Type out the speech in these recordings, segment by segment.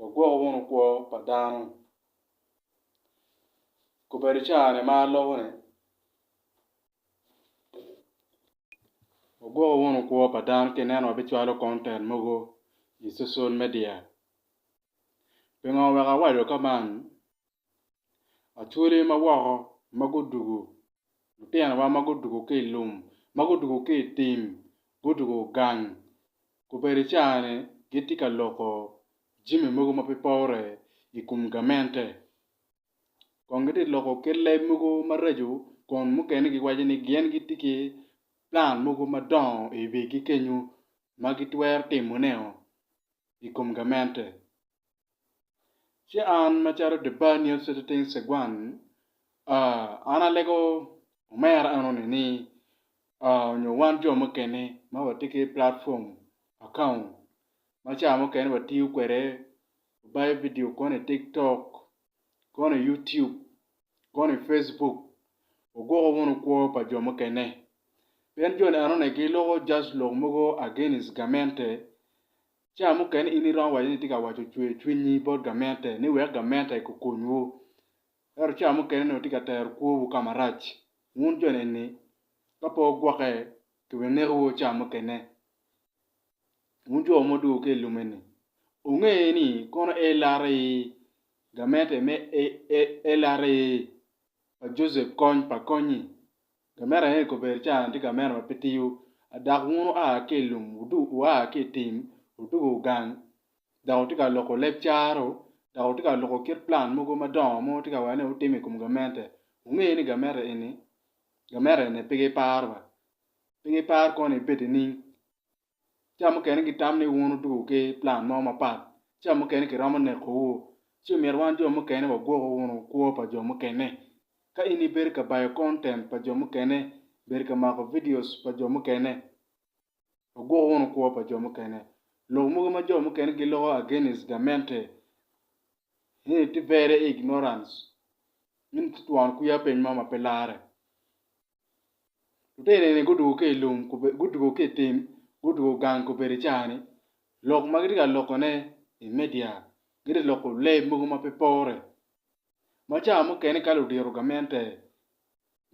Wagwoko wunu kwo pa dano. Kobedo caa-ni ma alubo-ni, wagwoko wunu kwo pa dano ka ineno wabicwalo konten mogo i cucul media. Pingo wek awaco ka man? Achwole ma woko ma gudwogo, lutinowa ma gudwogo ki i lum, ma gudwogo ki i tim, gudwogo gang. Obedo cani gitye ka loko jami mogo ma pe pore i kom gamente. Kong gitye ka loko kit leb mogo maraco kun mukene giwaco ni gin gitye ki plan mogo madongo i wigi kenyo ma gitwero timone i kom gamente. Ci an macalo Debaniel Seteting Segwan, an alego omera enoni ni, nyo wan jo mukene ma watye ki platform account ma ca mukene watiyo kwede, wabayo vidio koni i TikTok, koni i YouTube, koni i Facebook, waguko wunu kwo pa jo mukene. Pien joni enoni giloko just lok mogo against gamente, Ca mukene in iromo waco ni itye ka waco cwer cwinyi bot gamente ni wek gamente gukonywu. Ento ca mukene onongo itye ka tero kwowu ka marac. Wun jo eni, ka pe wugwokke, kibinekowu ca mukene. Wun jo ma odwogo ki i lum eni, wunge ni kono LRA gamente me LRA pa Josep kony pa konyi. Gamenti aye i kobedi ca tye gamenti ma pe tiyo adak wun wua ki i lum wua ki i tim wutugo gang dok wutye ka loko leb caro dok wutye ka loko kit plan mogo madongo ma wutye ka wero ni wutimo i kom gamente. Wunge ni gamente eni gamente eni pe giparo pe giparo kong ni ibed nining. Ca mukene gitam ni wun wuduku ki plan mo mapat, ca mukene kiromo nekowu, ci omyero wan jo mukene wagwoko wunu kwo pa jo mukene. Ka in ibedo ka bayo kontent pa jo mukene, bedo ka mako vidios pa jo mukene, wagwoko wunu kwo pa jo mukene. Lok mogo ma jo mukene giloko against gamente ni tye very ignorance, ni tye twon kwiya piny mo ma pe larre. Lutino-ni gudwogo ki i lum gudwogo ki i tim gudwogo gang gubedo i caa-ni lok ma gitye ka lokone i media gitye ka loko lee mogo ma pe pore ma caa mukene ka ludito gamente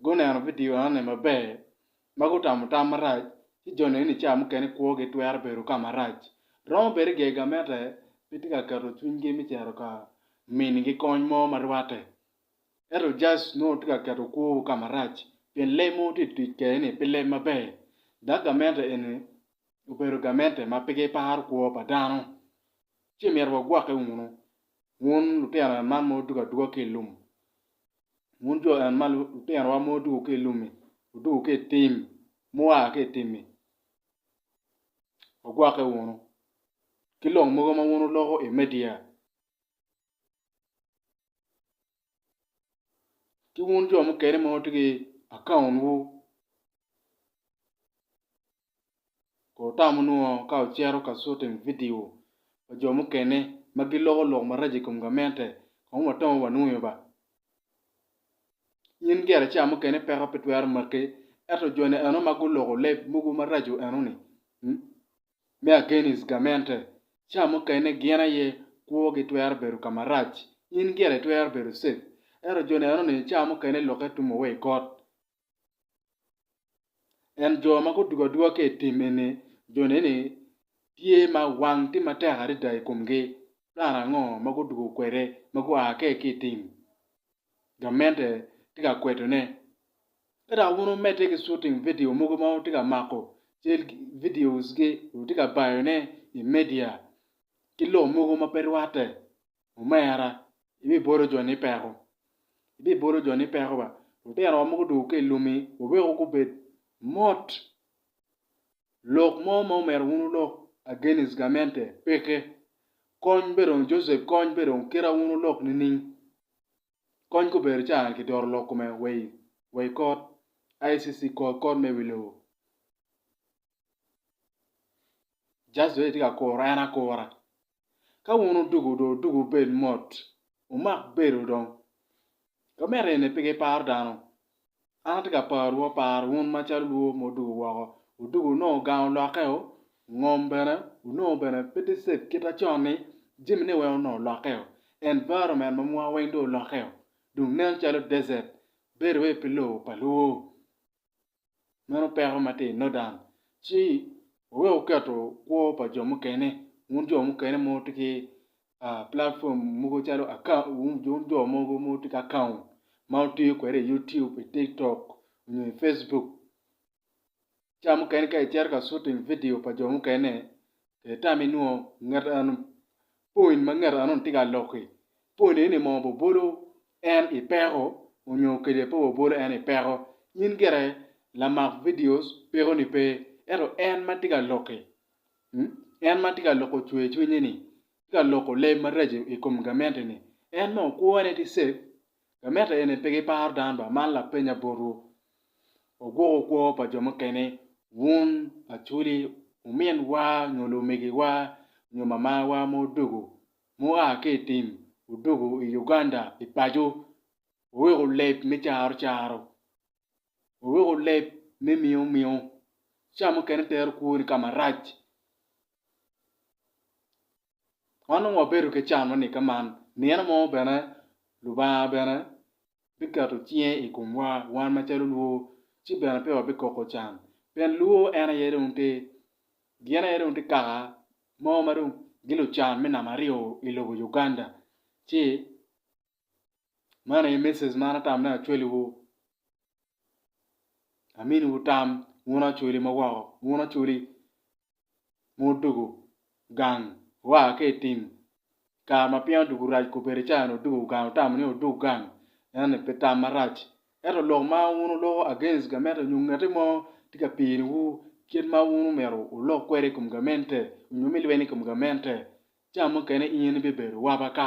guneno vidio enoni maber ma gutamo tam marac ci jo neno ni caa mukene kwogi twero bedo ka marac romo bedo iye gamente gitye ka keto cwinygi me cito ka minigi kony mo ma rwatte. Ento Jaz nongo tye ka keto kwowu ka marac pien lee mogo tye ka tic kwede-ni pi leb maber. Dok gamente eni obedo gamente ma pe giparo kwo pa dano. Ci myero wagwokke wunu, wun lutino en man ma wudwogo adwoga ki i lum, wun jo en man, lutinowa ma wudwogo ki i lum-mi, wudwogo ki i tim, mua ki i tim-mi, wagwokke wunu ki lok mogo ma wun wuloko i media. ki wun jo mukene ma wutye ki account wu ko wutamo nongo ka wucito ka shooting video pa jo mukene ma giloko lok maraco i kom gamente kong watong wanwoyo ba in gire ca mukene peko pe twero maki ento joni eno ma guloko leb mogo maraco eno ni Me agenis gamente, ca mukene gin aye kwogi twero bedo ka marac, in gire itwero bedo cep. Ento jo neno ni ca mukene lukke tumo wa i kot. En jo ma gudugo aduga ki i tim eni, jo neni tye ma wang tye matek adada i komgi. Plan ango ma gudugo kwede ma gua ke ki i tim? gamente tye ka kwedone. Ka dok wun wumedde ki shooting vidio mogo ma wutye ka mako cal videos gi wutye ka bayone i media ki lok mogo ma pe rwatte, omera ibibolo jo ni peko. Ibibolo jo ni peko ba. Lutino wa mogo dong ka i lumi waweko gubed mot. Lok mo ma omyero wun wulok against gamente peke. Kony bene dong Joseph kony bene dong kit ma wun wulok nining? Kony kubed ca ki doro lok kome wa i kot ICC kor kot me wi lobo. Just wek itye ka kuro en akura. Ka wun odugu do odugu bed mot. Wumak bedo dong. Ka miti eni pe giparo dano. An atye ka parowu, aparo wun macalo lwor ma wudwogo woko, wudwogo wunongo gang olokkeo, ngom bene wunongo bene pe tye safe kit ma con-ni, jamine weng onongo olokkeo, environment ma mwa weng dong olokkeo dong nen calo desert bedo wai pi lobo pa lwor. Meno peko ma tye i northern ci wuwek wuketo kwo pa jo mukene, wun jo mukene ma wutye ki platform mogo calo jo mogo ma gitye ki akaon ma gitiyo kwede i YouTube, i tiktok nyo i Facebook ca mukene ka icito ka cutting vidio pa jo mukene itamo inongo ngat eno point ma ngat eno tye ka lok-ki point eni mo bobolo en i peko nyo kede pe bobolo en i peko in gire lamak vidio pekoni pe ento en ma tye ka lok-ki En ma tye ka loko cwercwinye-ni tye ka loko leb maraco i kom gamente-ni. En ma okwone tye cek. Gamente eni pe giparo dano ba. Man lapenya botwu. Wagwoko kwo pa jo mukene, wun, Acholi, ominwa nyo lumegiwa nyo mamawa ma odwogo mua ki i tim, odwogo i Uganda i paco, wuweko leb me caro caro. Wuruku leb me miomiu. Ca mukene tero kwoni ka marac. Wan dong wabedo ki can ma nigge man, nino mo bene Lubanga bene biketo cinge i komwa wan macalo lwo ci bene pe wabikoko can. Pien lwo en aye dong tye, gin aye dong tye kaka mo ma dong gin lucan me namba aryo i lobo Uganda ci Man aye message ma an atamo ni acwali wu amini wu tam wun acwali ma woko wun acwali ma odwogo gang oa ki i tim kare ma piny odwogo rac kobedi ca ni odwogo gang wutamo ni odwog gang ento-ni pi tam marac ento lok ma wun wuloko against gamente nyo ngeti mo tye ka pini wu kit ma wun omyero wulok kwede i kom gamente nyo me lweny i kom gamente ca mukene in ibibedo wabaka